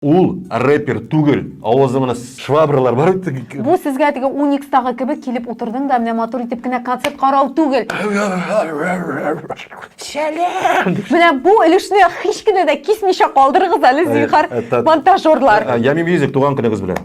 Ул рэпер түгел, авызыңны с швабралар бар бит г г. Бу сезгә теге уникстагы кебек килеп утырдың да менә матур итеп кенә концерт карау түгел! Шәләм! Менә бу өлешне һич кенә дә кисмичә калдырыгыз әле, Әйе, зинһар, ә тат монтажерлар! Ә Ями Мьюзик туган көнегез белән!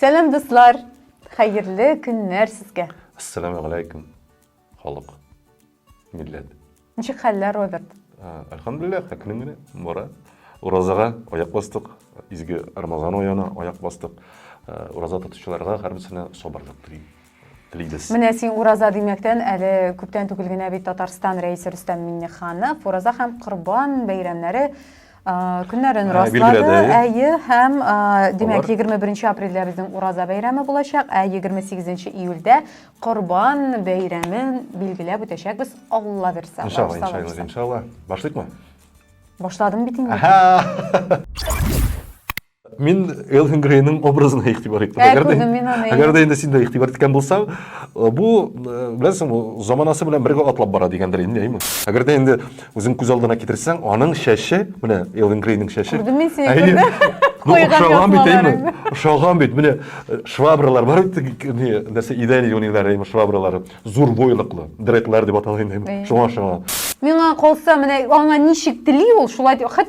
Сәлам дуслар! Хәерле көннәр сезгә! Ассаламу галәйкүм, халык, милләт! Ничек хәлләр, Роберт? Әлхәмдүлилләх, әкрен генә бара. Уразага аяк бастык, изге Рамазан аена аяк бастык. Ураза тотучыларга һәрберсенә сабырлык телим. Лидис. Менә син ураза димәктән әле күптән түгел генә бит Татарстан рәисе Рөстәм Миңнеханов ураза һәм Корбан бәйрәмнәре көннәрен ә, раслады. Әйе, һәм димәк 21 апрельдә безнең ураза бәйрәме булачак, ә 28 июльдә Корбан бәйрәмен билгеләп үтәчәкбез, Алла бирсә. Иншалла, иншалла, иншалла. Башлыйкмы? Башладым бит инде. Мин Элвин Грейның образына игътибар иттем. Ә, әгәр, күрдім, мин аны, әгәр дә инде син дә игътибар иткән булсаң, э, бу, э, беләсең, бу заманасы белән бергә атлап бара дигәндер инде, әйме? Әгәр дә инде үзең күз алдына китерсәң, аның шәше, менә Элвин Грейның шәше. Күрдем мин сине, әйе, күрдем. Ну, Куйган ошаган бит, әйме? язмаларың. Ошаган бит, менә э, швабралар бар бит, э, не, нәрсә, идән юниләр, әйме, швабралары. Зур бойлыклы, дредлар дип атала инде, әйме? Әйе. Шуңа ошаган. Миңа калса, менә аңа ничек тели ул, шулай дип, хәт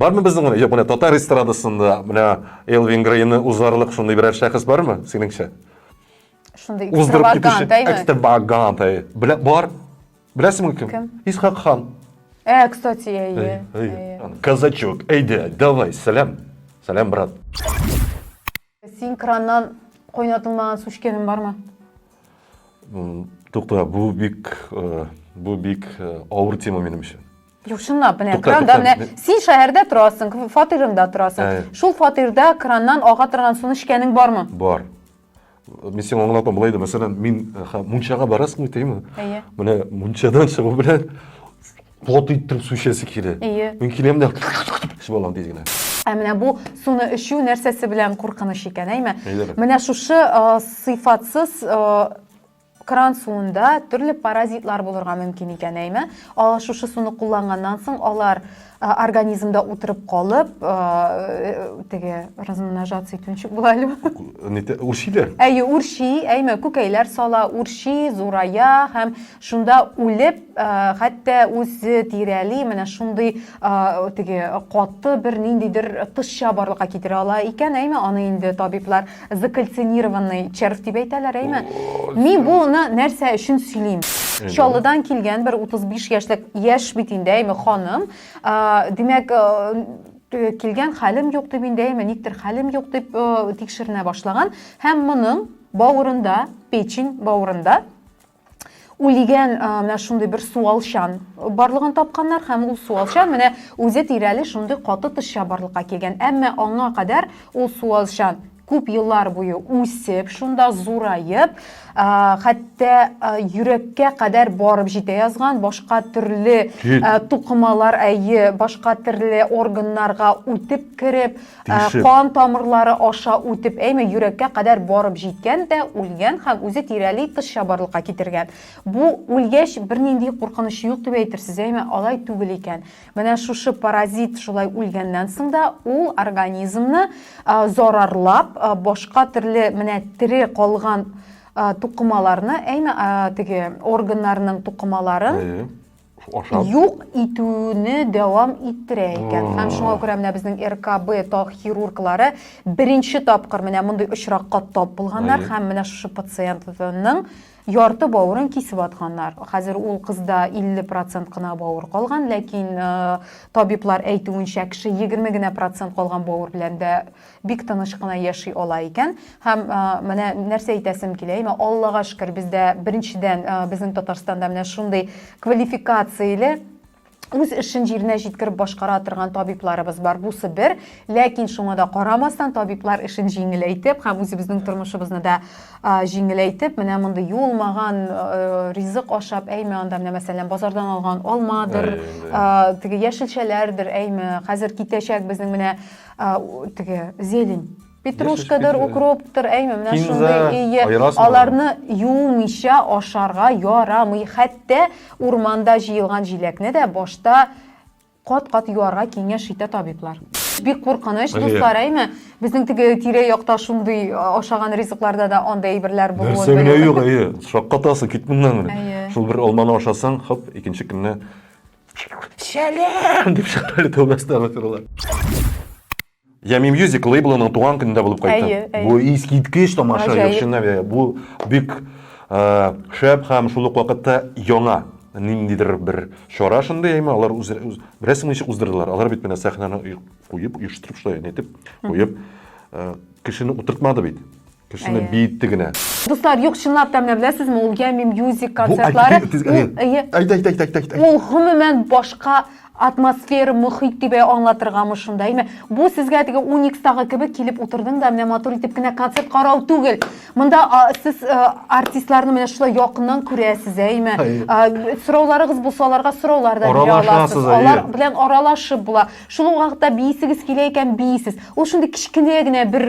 Бармы безнең генә? Юк, менә татар эстрадасында менә Элвин Грейны узарлык шундый берәр шәхес бармы, синеңчә? Шундый экстравагант, әйме? Экстравагант, әй. Белә, бар. Беләсеңме кем? Кем? Исхак хан. Ә, кстати, әйе. Казачок, әйдә, давай, сәлам. Сәлам, брат. Син краннан кайнатылмаган су эчкәнең бармы? Тукта, бу бик э, бу бик э, авыр тема минем өчен. Юк, чынлап, менә крандан менә син шәһәрдә торасың, фатирыңда торасың. Шул фатирда краннан ага торган суны эчкәнең бармы? Бар. Мин сиңа аңлатам, былай да, мәсәлән, мин э, мунчага барасың бит, әйеме? Әйе. Менә мунчадан чыгу белән плот иттереп су эчәсе килә. Әйе. Мин киләм дә эчеп алам тиз генә. Ә менә бу суны эчү нәрсәсе белән куркыныч икән, әйме? Әйдәгез. Менә шушы э, сыйфатсыз э, кран суында төрле паразитлар булырга мөмкин икән, әйме? Алар шушы суны кулланганнан соң алар э, организмда утырып калып, э, теге размножаться итүенче була әле. Нитә- Үрчиләр. Әйе, үрчи, әйме, күкәйләр сала, үрчи, зурая һәм Шунда үлеп, хәтта үзе тирәли, менә шундый теге каты бер ниндидер тышча барлыкка китерә ала икән, әйме, аны инде табиблар закальцинированный червь дип әйтәләр, әйме. Мин буны нәрсә өчен сөйлим? Чаллыдан килгән бер 35 яшьлек яшь бит инде, әйме, ханым. Димәк, килгән хәлем юк дип инде, әйме, никтер хәлем юк дип тикшеренә башлаган һәм моның бавырында, печень бавырында үлгән менә шундый бер суалчан барлыгын тапканнар һәм ул суалчан менә үзе тирәли шундый каты тышча барлыкка килгән әмма аңа кадәр ул суалчан күп еллар буе үсеп шунда зураеп хәтта йөрәккә кадәр барып җитә язган башка төрле тукымалар әйе башка төрле органнарга үтеп кереп Тишеп. Кан тамырлары аша үтеп, әйме йөрәккә кадәр барып җиткән дә үлгән һәм үзе тирәли кызча барлыкка китергән. Бу үлгәч бернинди куркыныч юк дип әйтерсез, әйме алай түгел икән. Менә шушы паразит шулай үлгәннән соң да ул организмны зарарлап, башка төрле менә тере калган тукымаларны, әйме теге органнарның тукымаларын, ашап юк итүне дәвам иттерә икән һәм шуңа күрә менә безнең ркб таг хирурглары беренче тапкыр менә мондый очракка тап булганнар һәм менә шушы пациентның ярты бавырын кисеп атканнар хәзер ул кызда 50 процент кына бавыр калган ләкин э, табиблар әйтүенчә кеше 20 генә процент калган бавыр белән дә Бик тыныч кына яши ала икән. Һәм менә нәрсә әйтәсем килә, имә Аллага шөкер, бездә беренчедән безнең Татарстанда менә шундый квалификацияле үз эшен җиренә җиткереп башкара торган табибларыбыз бар. Бусы бер, ләкин шуңа да карамастан табиблар эшен җиңеләйтеп һәм үзебезнең тормышыбызны да җиңеләйтеп, менә мондый юылмаган ризык ашап, әйме анда менә мәсәлән базардан алган алмадыр, теге яшелчәләрдер, әйме, хәзер китәчәк безнең менә А, у- теге зелень. Петрушкадыр, петрушка. укроптыр, әйме, менә Кинза, шундый ие. аерасың Аларны юмыйча ашарга ярамый. Хәтта урманда җыелган җиләкне дә башта кат-кат юарга киңәш итә табиблар. Бик куркыныч, Әйе. дуслар, әйме. Безнең теге тирә-якта шундый а, ашаган ризыкларда да андый әйберләр булуын Нәрсә генә белү. юк, әйе. Шаккатасың, кит моннан. Әйе. Шул бер алманы ашасаң, хоп, икенче көнне Сәлам! дип чыгарале тәүбәсенә гафирулла. Ями Music лейблының туган көнендә булып кайтты. Әйе, әйе. Бу искиткеч тамаша, Гаҗәеп. яхшына бе- бу бик э, шәп һәм шул ук вакытта яңа ниндидер бер чара шундый яме, алар үз, үз беләсең ничек уздырдылар. Алар бит менә сәхнәне ой- куеп, оештырып шулай нитеп куеп э, кешене утыртмады бит. Төшенеп биетте генә. Дуслар, юк, чынлап та менә беләсезме, ул Ями Music концертлары. Әйт, әйт, әйт, әйт, әйт. Ул гомумән башка атмосфера, мөхит дип аңлатыргамы шунда. Әйме, бу сезгә теге Уникстагы кебек килеп утырдың да менә матур итеп кенә концерт карау түгел. Монда сез артистларны менә шулай якыннан күрәсез, әйме. Сорауларыгыз булса, аларга сораулар да бирә аласыз. Алар белән аралашып була. Шул вакытта биисегез килә икән, биисез. Ул шундый кечкенә генә бер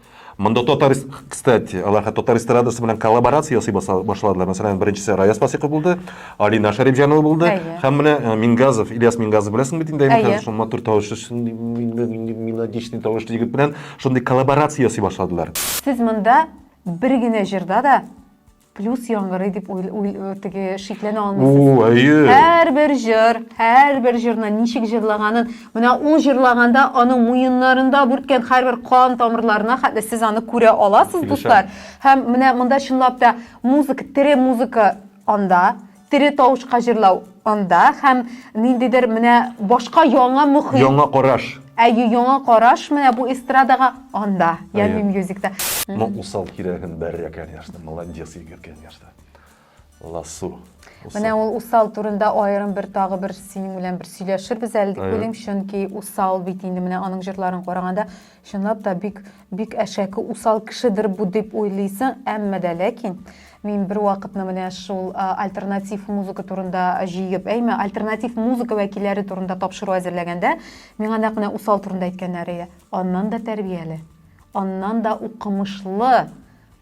Монда татар, кстати, алар хәтта татар эстрадасы белән коллаборация ясый башладылар. Мәсәлән, беренчесе Раяз Фасиков булды, Алина Шәрипҗанова булды. Әйе. Һәм менә э, Мингазов, Ильяс Мингазов беләсең бит инде, Әйе. шул матур тавышлы, шундый мелодичный тавышлы егет белән шундый коллаборация ясый башладылар. Сез монда бер генә җырда да плюс яңгырый дип теге шикләнә алмыйсыз әйе һәрбер җыр һәрбер җырны ничек җырлаганын менә ул җырлаганда аның муеннарында бүрткән һәрбер кан тамырларына хәтле сез аны күрә аласыз дуслар һәм менә монда чынлап та музыка тере музыка анда Тере тавышка җырлау анда һәм ниндидер менә башка яңа мохит. Яңа караш. Әйе, яңа караш менә бу эстрадага анда, Ями Мьюзикта. Ну, усал кирәген бәрә, конечно. Молодец, егет, конечно. Ласу. Менә ул усал турында аерым бер тагы бер синең белән бер сөйләшербез әле дип уйлыйм, чөнки усал бит инде менә аның җырларын караганда Чынлап та бик, бик әшәке, усал кешедер бу дип уйлыйсың, әмма дә ләкин мин бер вакытны менә шул альтернатив музыка турында җыеп, әйме, альтернатив музыка вәкилләре турында тапшыру әзерләгәндә, миңа нәкъ менә усал турында әйткәннәр иде. Аннан да тәрбияле, аннан да укымышлы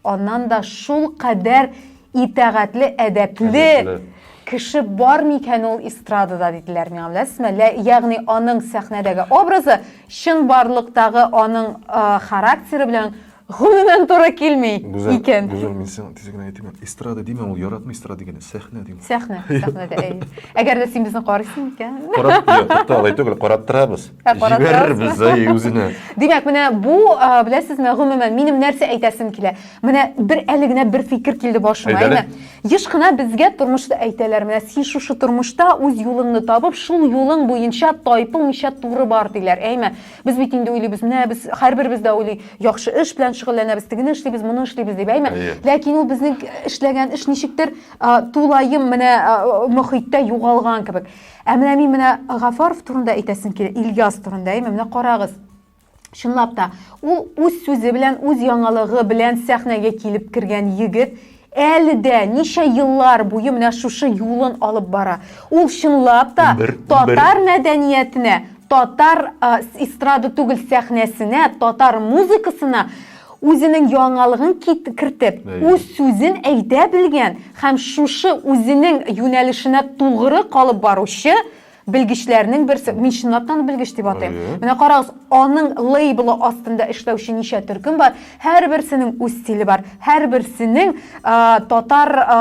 Аннан да шулкадәр итәгатьле, әдәпле кеше бар микән ул эстрадада диделәр миңа, беләсезме? Ягъни аның сәхнәдәге образы чын барлыктагы аның характеры белән гомумән туры килми Гүзәл, икән. Гүзәл, мин сиңа тиз генә әйтим. Эстрада димә, ул яратмый эстрада дигәнне, сәхнә дим. Сәхнә, сәхнәдә, әй. Әгәр дә син безне карыйсың икән. Карап, тукта, алай түгел, карап торабыз. Җибәрербез әй үзенә. Димәк, менә бу, беләсезме, гомумән минем нәрсә әйтәсем килә. Менә бер әле генә бер фикер килде башыма. Әйдәле. Еш кына безгә тормышта әйтәләр, менә син шушы тормышта үз юлыңны табып, шул юлың буенча тайпылмыйча туры бар диләр. Әйме? Без бит инде уйлыйбыз, менә без һәрберебез дә уйлый, яхшы эш белән шөгыльләнәбез, тегене эшлибез, моны эшлибез дип, әйме? Ләкин ул безнең эшләгән эш ничектер тулаем менә мөхиттә югалган кебек. Ә менә мин менә Гафаров турында әйтәсем килә, Ильяс турында, әйме, менә карагыз. Чынлап та, ул үз сүзе белән, үз яңалыгы белән сәхнәгә килеп кергән егет, әле дә ничә еллар буе менә шушы юлын алып бара. Ул чынлап та бер, татар бер. мәдәниятенә, татар э, эстрада түгел сәхнәсенә, татар музыкасына Үзенең яңалыгын кит, кертеп, Әйе. үз сүзен әйтә белгән һәм шушы үзенең юнәлешенә тугры калып баручы белгечләрнең берсе. Мин чынлап та аны белгеч дип атыйм. Әйе. Менә карагыз, аның лейблы астында эшләүче ничә төркем бар, һәрберсенең үз стиле бар, һәрберсенең а, татар а,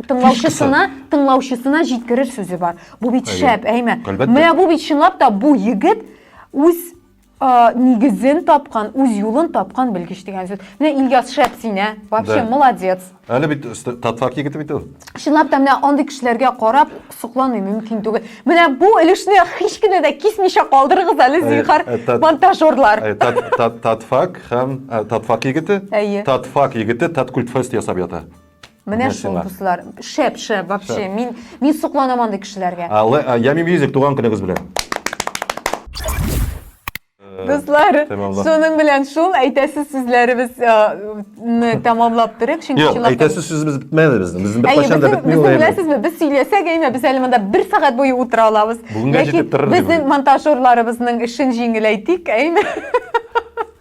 тыңлаучысына, тыңлаучысына җиткерер сүзе бар. Бу бит Әйе. шәп, әйме? Әлбәттә. Менә бу бит чынлап та бу егет үз нигезен тапкан, үз юлын тапкан белгеч дигән сүз. Менә Ильяс шәп син, ә? Вообще молодец. Әле бит татфак егете бит ул. Чынлап та менә андый кешеләргә карап соклану мөмкин түгел. Менә бу өлешне һич кенә дә кисмичә калдырыгыз әле зинхар монтажерлар. Татфак һәм татфак егете, татфак егете таткультфест ясап ята. Менә шул, дуслар. Шәп, шәп, вообще. Мин, мин сокланам андый кешеләргә. Ями Мьюзик, туган көнегез белән. Дуслар, шуның белән шул әйтәсе сүзләребез э, тәмамлап торыйк, чөнки Юк, әйтәсе сүзебез бетмәде безнең. Безнең бер кайчан да бетми ул. Беләсезме, без сөйләсәк, әйме, без әле монда бер сәгать буе утыра алабыз. Бүгенгә җитеп торыр. Безнең монтажерларыбызның эшен җиңеләйтик, әйме.